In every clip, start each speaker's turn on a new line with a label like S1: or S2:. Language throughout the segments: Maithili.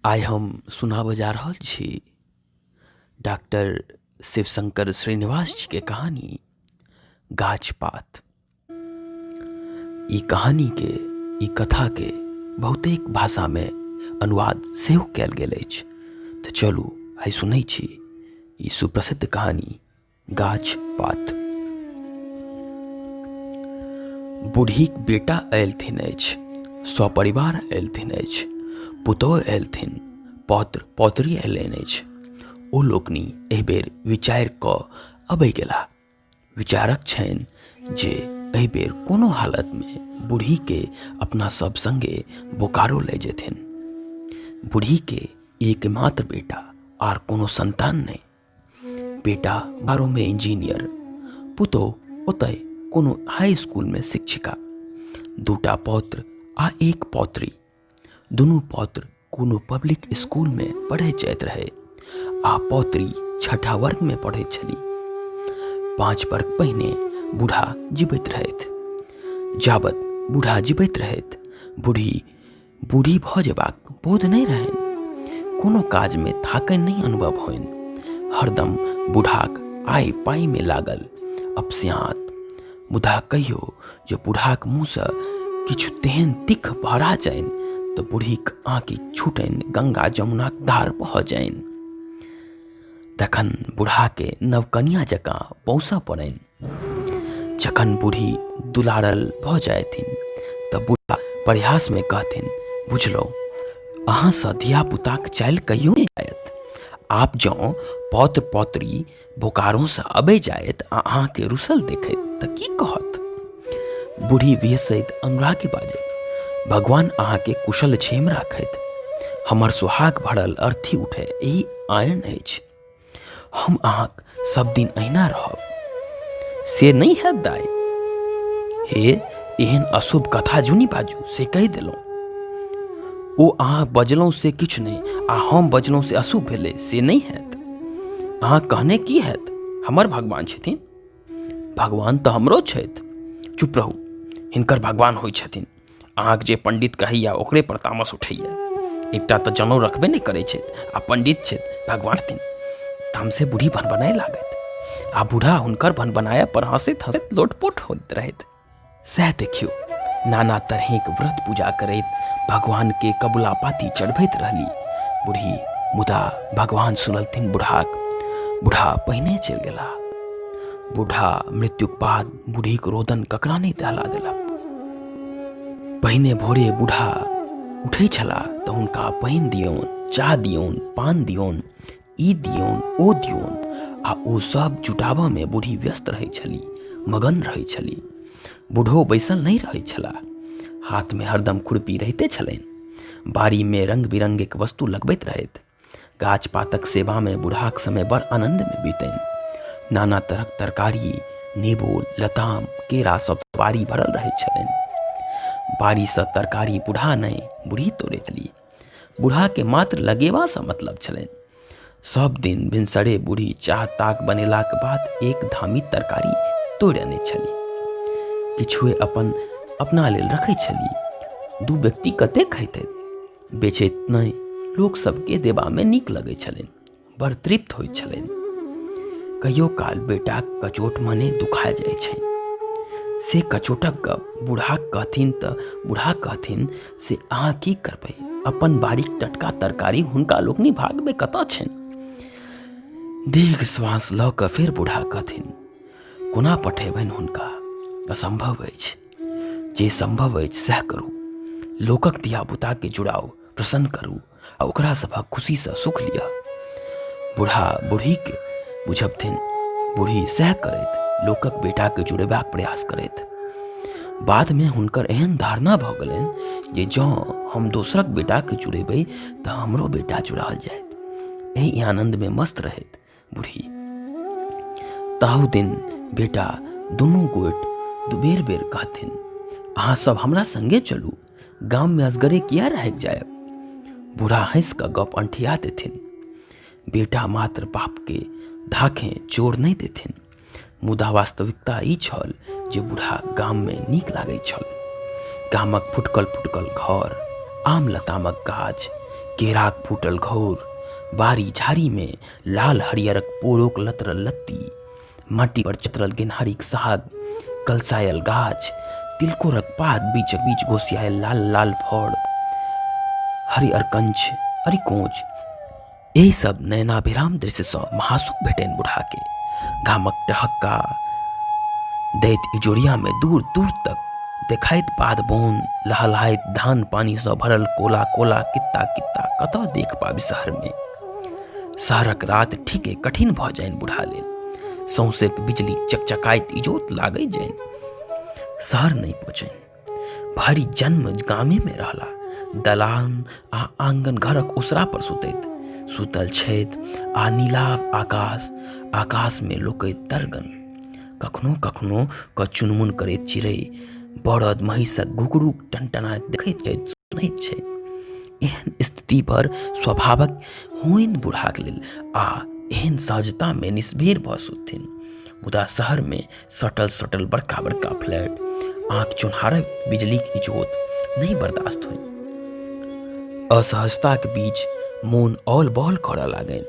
S1: आइ हम सुनाबऽ जा रहल छी डॉक्टर शिवशंकर श्रीनिवास जी के कहानी गाछ पात ई कहानी के ई कथा के बहुतेक भाषा में अनुवाद सेहो कयल गेल अछि तऽ चलू आइ सुनै छी ई सुप्रसिद्ध कहानी गाछ पात बूढ़ीक बेटा अयलथिन अछि सपरिवार अयलथिन अछि पुतोह अयलथिन पौत्र पौत्री अयलनि अछि ओ लोकनि एहि बेर विचारि कऽ अबै गेला विचारक छनि जे एहि बेर कोनो हालतमे बूढ़ीके अपना सब सङ्गे बोकारो लए जेथिन बूढ़ीके एकमात्र बेटा आर कोनो सन्तान नहि बेटा बारहमे इंजीनियर पुतोह ओतय कोनो हाई स्कूलमे शिक्षिका दूटा पौत्र आ एक पौत्री दुनू पौत्र कोनो पब्लिक स्कूलमे पढ़ै जाइत रहै आ पौत्री छठा वर्गमे पढ़ै छली पाँच वर्ग पहिने बूढ़ा जीबैत रहथि जाबत बूढ़ा जीबैत रहथि बूढ़ी बूढ़ी भऽ जेबाक बोध नहि रहनि कोनो काजमे थाकनि नहि अनुभव होनि हरदम बूढ़ाक आय पाइमे लागल अपस्यात मुदा कहियो जे बूढ़ाक मुँहसँ किछु तेहन तिख भरा जानि तऽ बूढ़ीक आँखि छूटनि गंगा जमुनाक धार भऽ जानि तखन बूढ़ाके नवकनिया जकाँ पौसऽ पड़नि जखन बूढ़ी दुलारल भऽ जायथिन तऽ बूढ़ा प्रयासमे कहथिन बुझलहुँ अहाँसँ धियापुताक चालि कहियो नहि जायत आब जँ पौत्र पौत्री बोकारोसँ अबै जायत आ अहाँके रुसल देखैत तऽ की कहत बूढ़ी विहसैत अनुरागी बाजैत भगवान अहाँके कुशल क्षेम राखैत हमर सुहाग भरल अर्थी उठै ई आयन अछि हम अहाँक सब दिन अहिना रहब से नहि हैत दाइ हे एहन अशुभ कथा जुनि बाजू से कहि देलहुँ ओ अहाँ बजलहुँ से किछु नहि आ हम बजलहुँ से अशुभ भेलै से नहि हैत अहाँ कहने की हैत हमर भगवान छथिन भगवान तऽ हमरो छथि चुप रहू हिनकर भगवान होइ छथिन अहाँके जे पंडित कहैया ओकरे पर तामस उठैया एकटा तऽ जनौ रखबे नहि करै छथि आ पंडित छथि भगवान तीन तामसे बूढ़ी भनबनाए लागत आ बूढ़ा हुनकर भनबनाया पर हंसैत हंसैत लोटपोट होइत रहैत सएह देखियौ नाना तरहक व्रत पूजा करैत भगवान के कबुला पाती चढ़बैत रहली बूढ़ी मुदा भगवान सुनलथिन बूढ़ाक बूढ़ा पहिने चलि गेला बूढ़ा मृत्युक बाद बूढ़ीक रोदन ककरा नहि दहला देलक पहिने भोरे बूढ़ा उठै छलाह तऽ हुनका पानि दियौन चाह दियौन पान दियौन ई दियौन ओ दियौन आ ओ सब जुटाबऽमे बूढ़ी व्यस्त रहै छली मगन रहै छली बूढ़ो बैसल नहि रहै छलाह हाथमे हरदम खुरपी रहिते छलनि बाड़ीमे रङ्ग बिरङ्गक वस्तु लगबैत रहथि गाछ पातक सेवामे बुढ़ाक समय बड़ आनन्दमे बीतनि नाना तरहक तरकारी नेबो लताम केरा सब बाड़ी भरल रहैत छलनि बाड़ीसँ तरकारी बुढ़ा नहि बुढ़ी तोड़ैत ली बुढ़ाके मात्र लगेबासँ मतलब छलनि सब दिन भिनसरे बूढ़ी चाह ताक बनेलाक बाद एक धामी तरकारी तोड़ि अनै छली किछुए अपन अपना लेल रखै छली दू व्यक्ति कते खैतै बेचैत नहि लोक सबके देबामे नीक लगैत छलनि बड़ तृप्त होइत छलनि कहियो काल बेटाक कचोट मने दुखा जाइत छै से कचोटक गप बूढ़ा कहथिन तऽ बूढ़ा कहथिन से अहाँ की करबै अपन बाड़ीक टटका तरकारी हुनका लोकनि भागमे कतऽ छनि दीर्घ श्वास लऽ कऽ फेर बूढ़ा कहथिन कोना पठेबनि हुनका असम्भव अछि जे संभव अछि सएह करू लोकक दिया बुताके जुड़ाव प्रसन्न करू आ ओकरा सभक खुशीसँ सुख लिअ बूढ़ा बूढ़ीके बुझबथिन बूढ़ी सएह करैत लोकक बेटाके जुड़ेबाक प्रयास करैत बादमे हुनकर एहन धारणा भऽ गेलनि जे जँ हम दोसरक बेटाके जुड़ेबै तऽ हमरो बेटा जुड़ाल जायत एहि आनन्दमे मस्त रहैत बुढ़ी ताहू दिन बेटा दुनू गोट दुबेर बेर कहथिन अहाँ सब हमरा संगे चलू गाममे असगरे किया रहैक जायब बूढ़ा हँसि कऽ गप अंठिया देथिन बेटा मात्र बापके धाखें जोर नहि देथिन मुदा वास्तविकता ई छल जे बूढ़ा गाममे नीक लागैत छल गामक फुटकल फुटकल घर आम लतामक गाछ केराक फूटल घौर बाड़ी झाड़ीमे लाल हरियरक पोरोक लतरल लत्ती माटी पर चित्रल गेनहारीक साग कलसायल गाछ तिलकोरक पात बीचक बीच घोसियायल लाल लाल फड़ हरियर कंछ अरिकोंच एहि सब नयनाभिराम दृश्यसँ महासुख भेटनि बुढ़ाके गामक टहक्का दैत इजोरियामे दूर दूर तक देखाइत पाद बोन लहलहाइत धान पानिसँ भरल कोला कोला कित्ता कित्ता कतऽ देख पाबी शहरमे शहरक रात ठीके कठिन भऽ जाइन बुढ़ा लेल सौंसेक बिजली चकचकाइत इजोत लागै जाइन शहर नहि पहुँचनि भरि जन्म गामेमे रहला दलान आ आङ्गन घरक ओसरा पर सुतैत सुतल छथि आ नीलाभ आकाश आकाशमे लोकैत दर्गन कखनो कखनो कऽ चुनमुन करैत चिड़ै बरद महिषक घुघरूक टनटनाइत देखैत छथि सुनैत छथि एहन स्थिति पर स्वभावक होइन बुढ़ाक लेल आ एहन सहजतामे निष्भेर भऽ सुतथिन मुदा शहरमे सटल सटल बड़का बड़का फ्लैट आँख चुनहारक बिजलीक इजोत नहि बर्दाश्त होइ असहजताक बीच मोन औल बौल करऽ लागनि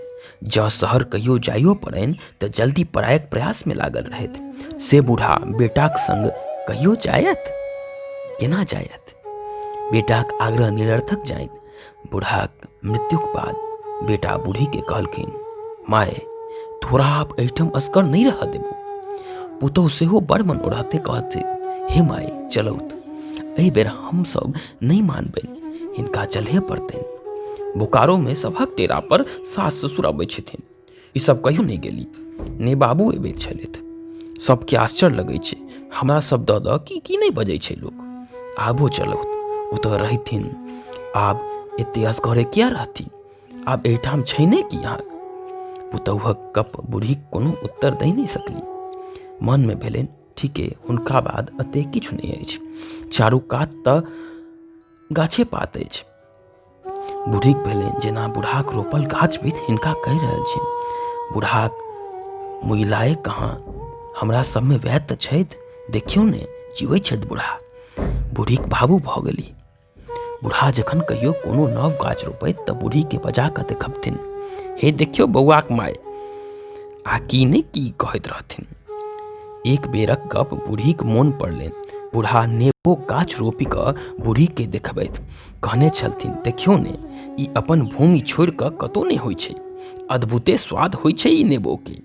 S1: जँ शहर कहियो जाइयो पड़नि तऽ जल्दी परायक प्रयासमे लागल रहथि से बूढ़ा बेटाक संग कहियो जायत केना जायत बेटाक आग्रह निरर्थक जानि बूढ़ाक मृत्युक बाद बेटा बूढ़ीके कहलखिन माय तोरा आब एहिठाम असगर नहि रहऽ देबू पुतहु सेहो बड़ मन ओढ़ाते कहते हे माय चलौत एहि बेर हमसभ नहि मानबनि हिनका चलहे पड़तनि बोकारोमे सभक डेरा पर सास ससुर अबै छथिन ईसभ कहियो नहि गेली नहि बाबू अबैत छलथि सभके आश्चर्य लगै छै हमरा सभ दऽ दऽ की की नहि बजै छै लोक आबो चलौत ओतऽ रहथिन आब एते असगरे किया रहथिन आब एहिठाम छै ने कि अहाँ पुतौहक कप बूढ़ी कोनो उत्तर दे नहि सकली मनमे भेलनि ठीके हुनका बाद एते किछु नहि अछि चारू कात तऽ गाछे पात अछि बूढ़ीक भेलनि जेना बूढ़ाक रोपल गाछ बीत हिनका कहि रहल छी बूढ़ाक मुइलाए कहाँ हमरा सभमे वैद तऽ छथि देखियौ ने जीवै छथि बूढ़ा बूढ़ीक बाबू भऽ गेली बूढ़ा जखन कहियो कोनो नव गाछ रोपैत तऽ बूढ़ीके बजा कऽ देखबथिन हे देखियौ बौआक माय आ की नहि की कहैत रहथिन एक बेरक गप बूढ़ीक मोन पड़लनि बूढ़ा नेबो गाछ रोपि कऽ बूढ़ीके देखबथि कहने छलथिन देखियौ ने ई अपन भूमि छोड़ि कऽ कतहु नहि होइ छै अद्भुते स्वाद होइ छै ई नेबोके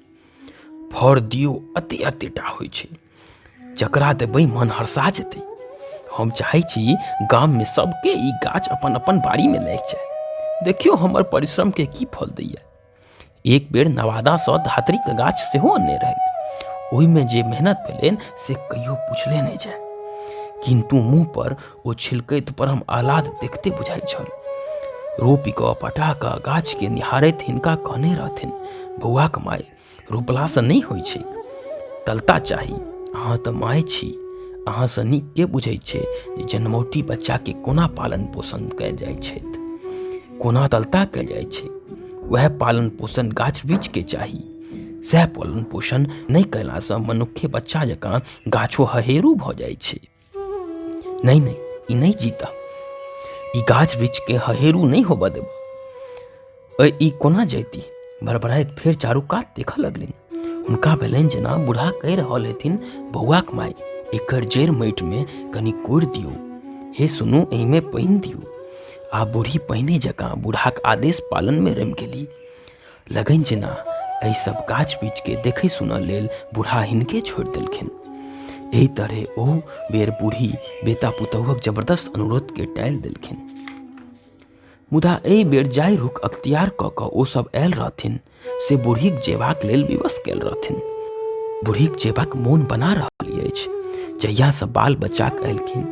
S1: फर दियौ अति अतिटा होइ छै जकरा देबै मन हर्षा जेतै हम चाहै छी गाममे सभके ई गाछ अपन अपन बाड़ीमे लागि जाय देखियौ हमर परिश्रमके की फल दैए एक बेर नवादासँ धातृक गाछ सेहो अनने रहथि ओहिमे जे मेहनत भेलनि से कहियो पुछले नहि जाय किन्तु मुँह पर ओ छिलकैत परम आह्लाद देखते बुझाइत छल रोपि कऽ पटा कऽ गाछके निहारैत हिनका कहने रहथिन बौआक माय रोपलासँ नहि होइ छै तलता चाही अहाँ तऽ माय छी अहाँसँ नीक के बुझैत छै जे जनमौटी बच्चाके कोना पालन पोषण कयल जाइत छथि कोना दलता कयल जाइ छै वएह पालन पोषण गाछ वृक्ष के चाही सएह पालन पोषण नहि कयलासँ मनुक्खे बच्चा जकाँ गाछो हहेरू भऽ जाइ छै नहि नहि ई नहि जीता ई गाछ वृक्ष के हहेरू नहि होबऽ देब ई कोना जैती भरभराइत फेर चारू कात देखऽ लगलनि हुनका भेलनि जेना बूढ़ा कहि रहल हेथिन बौआक माय एकर जड़ि माटिमे कनि कोड़ि दियौ हे सुनू एहिमे पानि दियौ आ बूढ़ी पहिने जकाँ बूढ़ाक आदेश पालनमे रमि गेली लगनि जेना एहि सब गाछ बीचके देखै सुनऽ लेल बूढ़ा हिनके छोड़ि देलखिन एहि तरहे ओ बेर बूढ़ी बेटा पुतहुक जबरदस्त अनुरोधके टालि देलखिन मुदा एहि बेर जाय रुख अख्तियार कऽ कऽ ओसभ आयल रहथिन से बूढ़ीक जेबाक लेल विवश कयल रहथिन बूढ़ीक जेबाक मोन बना रहल अछि जहियासँ बाल बच्चाक अयलखिन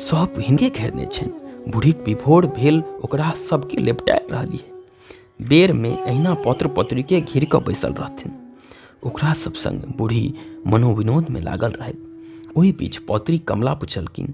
S1: सभ हिंदे घेरने छनि बूढ़ीक विभोर भेल ओकरा सभके लेपटाए रहलिए बेरमे अहिना पत्र पत्रिके घिर कऽ बैसल रहथिन ओकरा सभ संग बूढ़ी मनोविनोदमे लागल रहथि ओहि बीच पौत्री कमला पुछलखिन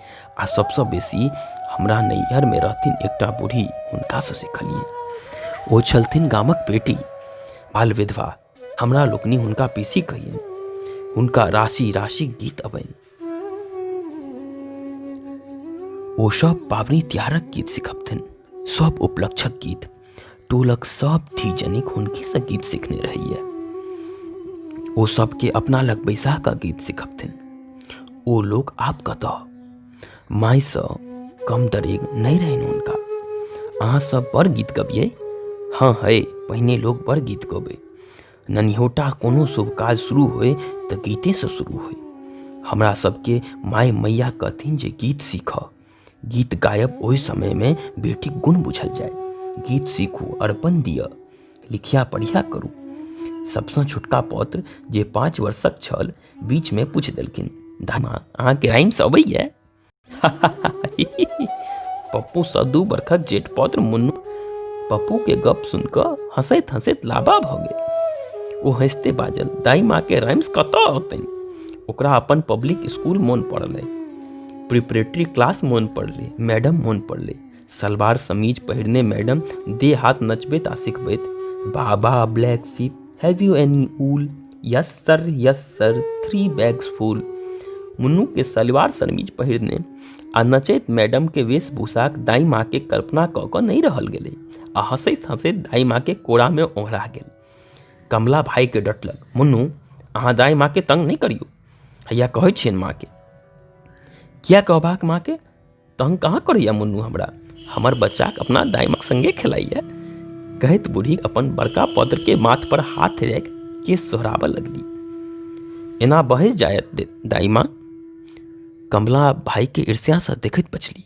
S1: आ सबसँ बेसी हमरा नैहरमे रहथिन एकटा बूढ़ी हुनकासँ सिखलियै ओ छलथिन गामक बेटी बाल विधवा हमरा लोकनि हुनका पीसी कहियनि हुनका राशि राशि गीत अबनि ओ सब पाबनि तिहारक गीत सिखबथिन सब उपलक्षक गीत टोलक सभ धीजनिक हुनकेसँ गीत सिखने रहैए ओ सभके अपना लग बैसा कऽ गीत सिखबथिन ओ लोक आब कतऽ मायसँ कम दरेग नहि रहनि हुनका अहाँ सब बड़ गीत गबियै हँ है पहिने लोक बड़ गीत गबै ननिहोटा कोनो शुभ काज शुरू होय तऽ गीतेसँ शुरू होय हमरा सबके माय मैया कहथिन जे गीत सीखऽ गीत गायब ओहि समयमे बेटीक गुण बुझल जाय गीत सीखू अर्पण दिअ लिखिया पढ़िया करू सभसँ छोटका पौत्र जे पाँच वर्षक छल बीचमे पूछि देलखिन दामा अहाँके राइम्स अबैए पप्पूसँ दू बरखक जेठ पौत्र मुन्नू पप्पूके गप सुन कऽ हँसैत हँसैत लाबा भऽ गेल ओ हँसते बाजल दाई माँके राइम्स कतऽ औतनि ओकरा अपन पब्लिक स्कूल मोन पड़ल अइ प्रिपरेटरी क्लास मोन पड़लै मैडम मोन पड़लै सलवार समीज पहिरने मैडम देह हाथ नचबैत आ सिखबैत baa baa black sheep have you any wool yes sir yes sir three bags full मुन्नूके सलवार समीज पहिरने आ नचैत मैडमके वेशभूषाक दाई माँके कल्पना कऽ कऽ नहि रहल गेलै आ हँसैत हँसैत दाई माँके कोरामे ओंघरा गेल कमला भायके डटलक मुन्नू अहाँ दाई माँके तंग नहि करियौ हैया कहै छियनि माँके किया कहबाक माँके तहन कहाँ करैए मुन्नू हमरा हमर बच्चाके अपना दाइमाक सङ्गे खेलाइए कहैत बूढ़ी अपन बड़का पौत्रके माथपर हाथ राखि के सोहराबऽ लगली एना बहै जायत दे- दाइमा कमला भाइके ईर्ष्यासँ देखैत बचली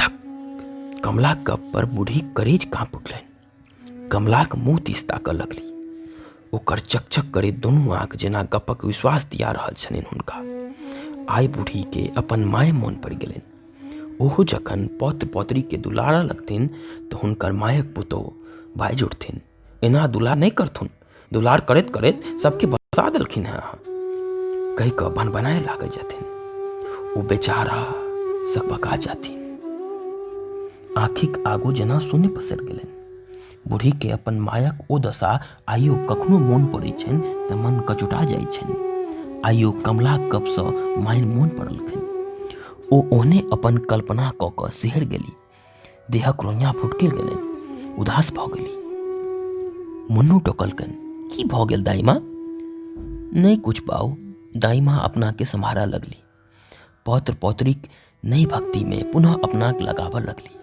S1: धक कमला गप पर बूढ़ी करेज काँप उठलनि कमलाक मुँह दिस ताकऽ लगली ओकर चकचक करैत दुनू आँख जेना गपक विश्वास दिया रहल छलनि हुनका आइ बूढ़ीके अपन माय मोन पड़ि गेलनि ओहो जखन पौत्र पौत्रीके दुलारऽ लगथिन तऽ हुनकर मायक पुतोह बाजि उठथिन एना दुलार नहि करथुन दुलार करैत करैत सभके बसा देलखिन हेँ अहाँ कहि कऽ बन बनाए लागै जेथिन ओ बेचारा सकबका जाथिन आँखिक आगू जेना शून्य पसरि गेलनि बूढ़ीके अपन मायक ओ दशा आइयो कखनो मोन पड़ैत छनि तऽ मन कचुटा जाइत छनि आइयो कमला कपसँ माइन मोन पड़लखिन ओ ओहने अपन कल्पना कऽ कऽ सिहर गेली देहा क्रोन्या फुटकिल गेलनि उदास भऽ गेली मुन्नू टोकलकनि की भऽ गेल दाइमा नहि किछु बाऊ दाइमा अपनाके सम्हारा लगली पौत्र पौत्रीक नहि भक्तिमे पुनः अपनाके लगाबऽ लगली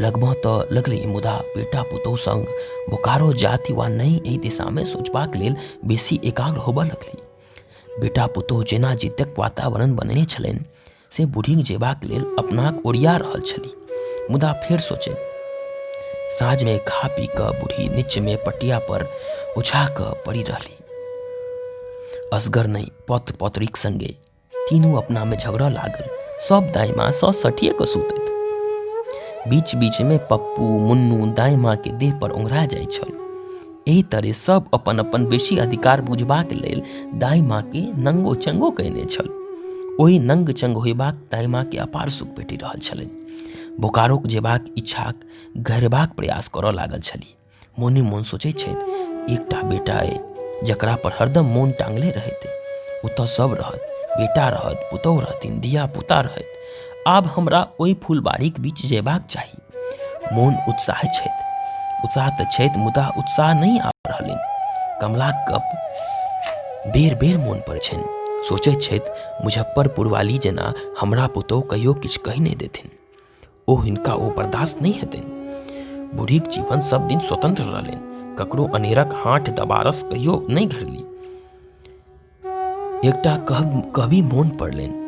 S1: लगबऽ तऽ लगली मुदा बेटा पुतोह संग बोकारो जाति वा नहि एहि दिशामे सोचबाक लेल बेसी एकाग्र होबऽ लगली बेटा पुतोह जेना जीतक वातावरण बनेने छलनि से बुढ़िन जेबाक लेल अपनाक ओरिया रहल छली मुदा फेर सोचल साँझमे खा पी कऽ बूढ़ी नीचमे पटिया पर उछा कऽ पड़ि रहली असगर नहि पत्र पत्रिक संगे तीनू अपनामे झगड़ा लागल सब दाइमा सँ सटिए कऽ सुतैत बीच बीचमे पप्पू मुन्नू दाइमाके देह पर ओंघरा जाइ छल एहि तरे सब अपन अपन बेसी अधिकार बुझबाक लेल दाई माँ के नंगो चंगो कयने छल ओहि नंग चंग होयबाक दाई माँ के अपार सुख भेटि रहल छलनि बोकारोक जेबाक इच्छाक घरेबाक प्रयास करऽ लागल छली मोने मोन सोचै छथि एकटा बेटा अइ जकरा पर हरदम मोन टांगले रहैत ओतऽ सब रहत बेटा रहत पुतहु रहथिन धिया पुता रहत आब हमरा ओहि फुलबाड़ीक बीच जेबाक चाही मोन उत्साह छथि उत्साह तऽ छथि मुदा उत्साह नहि आबि रहलनि कमलाक गप बेर बेर मोन पड़ै छनि सोचैत छथि मुजफ्फरपुर वाली जेना हमरा पुतहु कहियो किछु कहि नहि देथिन ओ हिनका ओ बर्दाश्त नहि हेतनि बूढ़ीक जीवन सब दिन स्वतंत्र रहलनि ककरो अनेरक हाथ दबारस कहियो नहि घरली एकटा कह कवि मोन पड़लनि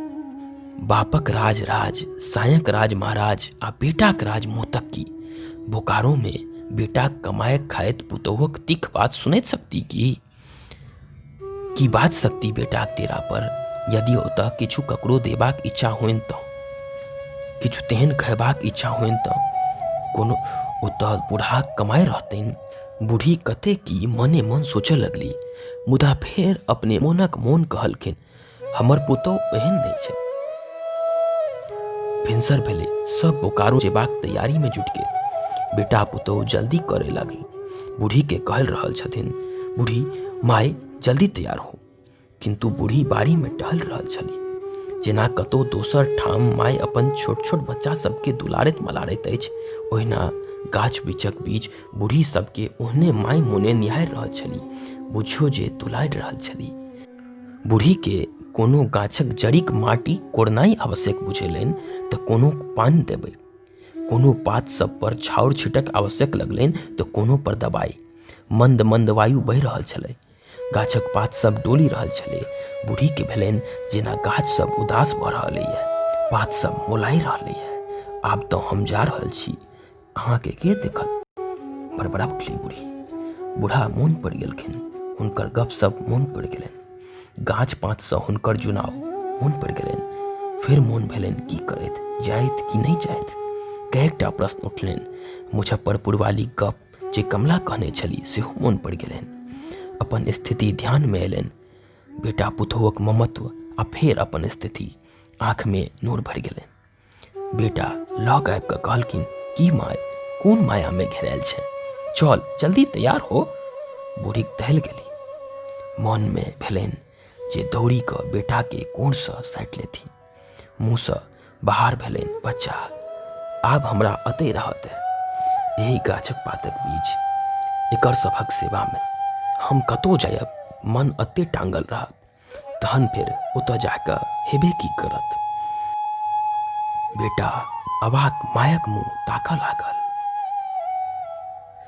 S1: बापक राज राज सायक राज महाराज आ बेटाक राज मोतक की बोकारोमे बेटाक कमायक खायत पुतोहक तिख बात सुनैत सकती की की बात सकती बेटाक डेरा पर यदि ओतऽ किछु ककरो देबाक इच्छा होइन तऽ किछु तेहन खयबाक इच्छा होइन तऽ कोनो ओतऽ बूढ़ाक कमाइ रहतनि बूढ़ी कते की मने मन सोचय लगली मुदा फेर अपने मोनक मोन कहलखिन हमर पुतौ एहन नहि छै भिनसर भेले सब बोकारो जेबाक तैयारी में जुट गेल बेटा पुतौ जल्दी करे लगली बूढ़ी के कहल रहल छथिन बूढ़ी माय जल्दी तैयार हो किन्तु बूढ़ी बाड़ी में टहल रहल छली जेना कतौ दोसर ठाम माय अपन छोट छोट बच्चा सबके दुलारैत मलारैत अछि ओहिना गाछ बिछक बीच बूढ़ी सबके ओहने माय मोने निहारि रहल छली बुझियो जे दुलारि रहल छली बूढ़ी के कोनो गाछक जड़िक माटी कोड़नाई आवश्यक बुझेलनि तऽ कोनो पानि देबै कोनो पात सब पर छाउर छिटक आवश्यक लगलनि तऽ कोनो पर दबाई मंद मंद वायु बहि रहल छलै गाछक पात सब डोलि रहल छलै बूढ़ी के भेलनि जेना गाछ सब उदास भऽ रहल अइए पात सब मोलाइ रहल अइए आब तऽ हम जा रहल छी अहाँके के देखत बड़बड़ा उठली बूढ़ी बूढ़ा मोन पड़ि गेलखिन हुनकर गप सब मोन पड़ि गेलनि गाछ पातसँ हुनकर जुनाव मोन पड़ि गेलनि फेर मोन भेलनि की करैत जाइत कि नहि जाइत कएकटा प्रश्न उठलनि मुजफ्फरपुर वाली गप जे कमला कहने छली सेहो मोन पड़ि गेलनि अपन स्थिति ध्यानमे अयलनि बेटा पुतोहक ममत्व आ फेर अपन स्थिति आँखमे नूर भरि गेलनि बेटा लग आबि कऽ कहलखिन की माय कोन मायामे घेरायल छै चल जल्दी तैयार हो बूढ़ीक दहल गेली मोनमे भेलनि जे दौड़ी कऽ बेटाके कोरसँ साटि लेथिन मुँहसँ बाहर भेलनि बच्चा आब हमरा अतै रहत एहि गाछक पातक बीच एकर सभक सेवामे हम कतहु जायब मन अते टांगल रहत तहन फेर ओतऽ जाकऽ हेबे की करत बेटा अबाक मायक मुँह ताकऽ लागल